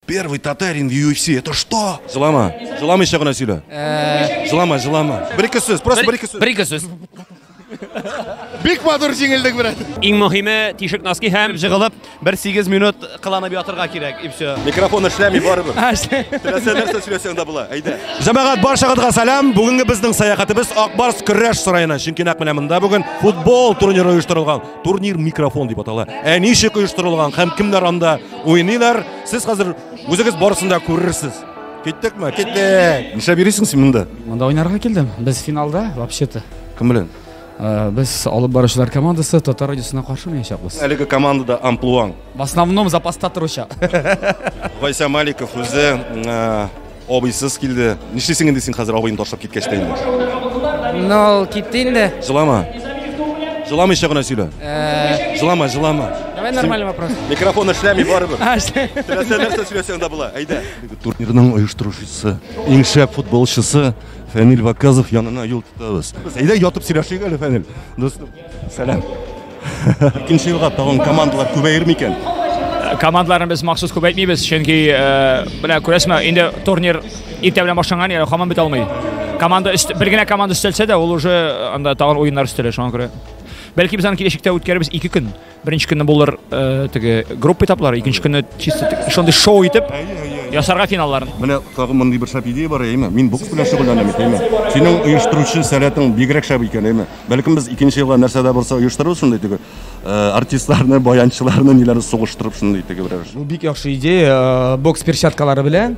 Первый татарин в UFC, это что? Жылама, жылама еще гына сөйлә. Э, жылама, жылама. Бер ике сүз, просто бер ике сүз. Бер ике сүз. Бик матур җиңелдек, брат. Иң мөһиме тишек носки һәм җыгылып 1-8 минут кыланып ятырга кирәк, и все. Микрофон эшләми барыбер. Теләсә нәрсә сөйләсәң дә була. Әйдә. Җәмәгать баршагызга сәлам. Бүгенге безнең сәяхәтебез Акбарс көрәш сараена, чөнки нәкъ менә монда бүген футбол турниры оештырылган. Турнир микрофон дип атала. Ә ничек оештырылган һәм кемнәр анда уйныйлар? Сез хәзер үзегез барысын да күрерсез. Киттекме? Киттек. Нишләп йөрисең син монда? Монда уйнарга килдем. Без финалда вообще-то. Кем белән? Э, без алып баручылар командасы татар радиосына каршы уйнаячакбыз әлеге командада амплуаң в основном запаста торучы гайса маликов үзе э, Абыйсыз килде. Нишлисең инде син хәзер абыйны ташлап киткәч тә инде? Ну, ул китте инде. Җылама. Җыламыйча гына сөйлә. Э, Җылама, җылама. Давай нормальный вопрос. Микрофон эшләми барыбер. А, что? Теләсә нәрсә сөйләсәң дә була. Әйдә. Турнирның оештыручысы, иң шәп футболчысы Фәнил Ваказов янына юл тотабыз. Әйдә ятып сөйләшик әле, Фәнил. Дустым. Сәлам. Икенче елга тагын командалар күбәер микән? Э, командаларны без махсус күбәйтмибез, чөнки э, менә күрәсме, инде турнир иртә белән башланган, яны хаман бит алмый. Команда өст, бер генә команда өстәлсә дә, ул уже э, анда тагын уеннар өстәлә, шуңа күрә. Бәлки без аны киләчәктә үткәребез 2 көн. Беренче көнне булыр э, теге группа этаплары, икенче көнне чисто тик- шундый шоу итеп ясарга финалларын. Менә тагын мондый бер шәп идея бар, әйме? Мин бокс белән шөгыльләнәм бит, әйме? Синең оештыручы сәләтең бигрәк шәп икән, әйме? Бәлкем без икенче елга нәрсә дә булса оештырырбыз шундый теге э, артистларны, баянчыларны, ниләрне сугыштырып шундый теге берәр. Бу бик яхшы идея. Э, Бокс перчаткалары белән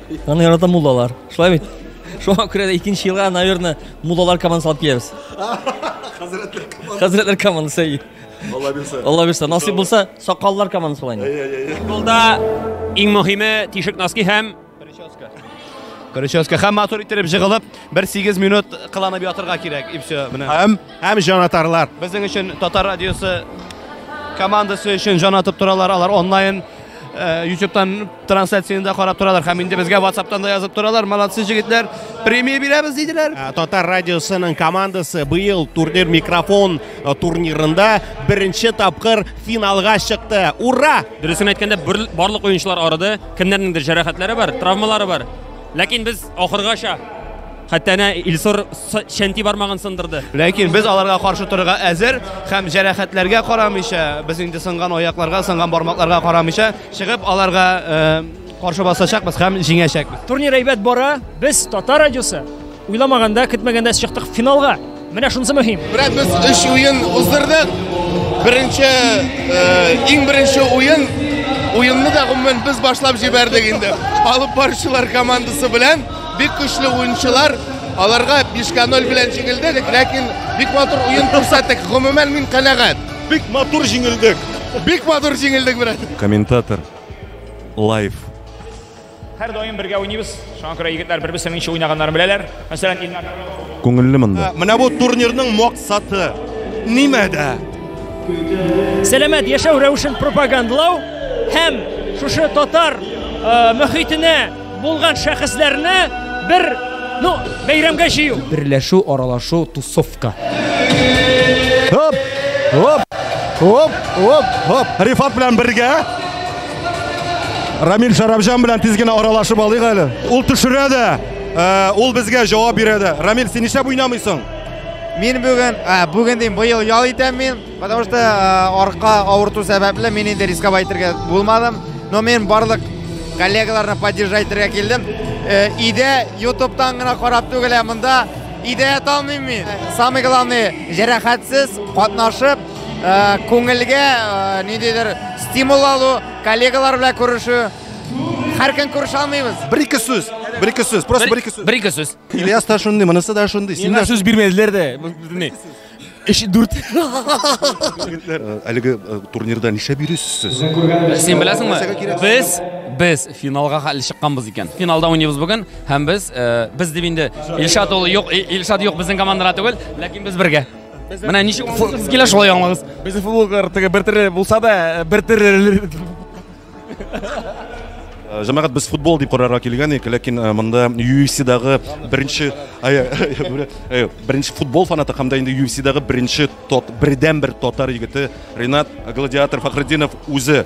Аны ярата муллалар. Шулай бит? Шуңа күрә дә икенче елга, наверное, муллалар командасы алып киләбез. Хәзрәтләр командасы. Хәзрәтләр командасы. Алла бирсә. Алла бирсә. Насыйп булса, сакаллар командасы була инде. Футболда иң мөһиме тишек носки һәм прическа. Прическа һәм матур иттереп җыгылып, 1-8 минут кыланып ятырга кирәк. И все, менә. Һәм һәм җанатарлар. Безнең өчен Татар радиосы командасы өчен җан атып торалар алар онлайн э, ютубтан Трансляцияне дә карап торалар һәм инде безгә WhatsApp'тан да язып торалар. Молодцы җегетләр. Премия бирәбез диделәр. Ә, Татар радиосының командасы быел турнир микрофон э, турнирында беренче тапкыр финалга чыкты. Ура! Дөресен әйткәндә, бер- барлык уенчылар арыды. Кемнәрнеңдер җәрәхәтләре бар, травмалары бар. Ләкин без ахыргача Хәтта әнә Илсур чәнти бармагын сындырды. Ләкин без аларга каршы торырга әзер һәм җәрәхәтләргә карамыйча, без инде сынган аякларга, сынган бармакларга карамыйча, чыгып аларга каршы басачакбыз һәм җиңәчәкбез. Турнир әйбәт бара. Без Татар радиосы уйламаганда, көтмәгәндә чыктык финалга. Менә шунысы мөһим. Менә без өч уен уздырдык. Беренче, э, иң беренче уен уенны да гомумән без башлап җибәрдек инде. Алып баручылар командасы белән бик көчле уенчылар аларга 5-0 белән җиңелдек, ләкин бик матур уен күрсәттек. Гомумән мин канәгать. Бик матур җиңелдек. Бик матур җиңелдек, брат. Комментатор. Лайф. Һәр даим бергә уйныйбыз. Шуңа күрә егетләр бер-берсе ничә уйнаганнарын беләләр. Мәсәлән, Илнар Күңелле монда. Ә, Менә бу турнирның максаты нимәдә? Сәламәт яшәү рәвешен пропагандлау һәм шушы татар э, мөхитенә булган шәхесләрне бер ну бәйрәмгә җыю. Берләшү, аралашу, тусовка. Хоп! Хоп! Хоп! Хоп! Хоп! Рифат белән бергә Рамил Шарабжан белән тиз генә аралашып алыйк әле. Ул төшерә дә, э, ул безгә җавап бирә дә. Рамил, син нишләп уйнамыйсың? Мин бүген, ә, бүген дим, быел ял итәм мин, потому что э, арка авырту сәбәпле мин инде рисковать итәргә булмадым. Но мин барлык коллегаларны поддержать итәргә килдем. Э, Иде ютубтан гына карап түгел, ә монда идея талмыйм мин. Самый главный, җәрәхәтсез катнашып, Э, күңелгә э, ниндидер стимул алу коллегалар белән күрешү һәр көн күрешә алмыйбыз бер ике сүз бер ике сүз просто бер ике сүз бер ике сүз ильяс та шундый монысы да шундый син дә сүз бирмәделәр дә өч дүрт э, әлеге турнирда нишләп йөрисез сез син беләсеңме без без финалга хәле чыкканбыз икән финалда уйныйбыз бүген һәм без без дип инде илшат ул юк илшат юк безнең командада түгел ләкин без бергә Менә ничек футболсыз килә шулай аңлагыз. Безнең футболга теге бер төрле булса да, э, бер төрле. Э, Җәмәгать без футбол дип карарга килгән идек, ләкин э, монда UFC-дагы беренче ай, э, беренче футбол фанаты һәм дә инде UFC-дагы беренче тот, бердән бер татар егете Ренат Гладиатор Фахретдинов үзе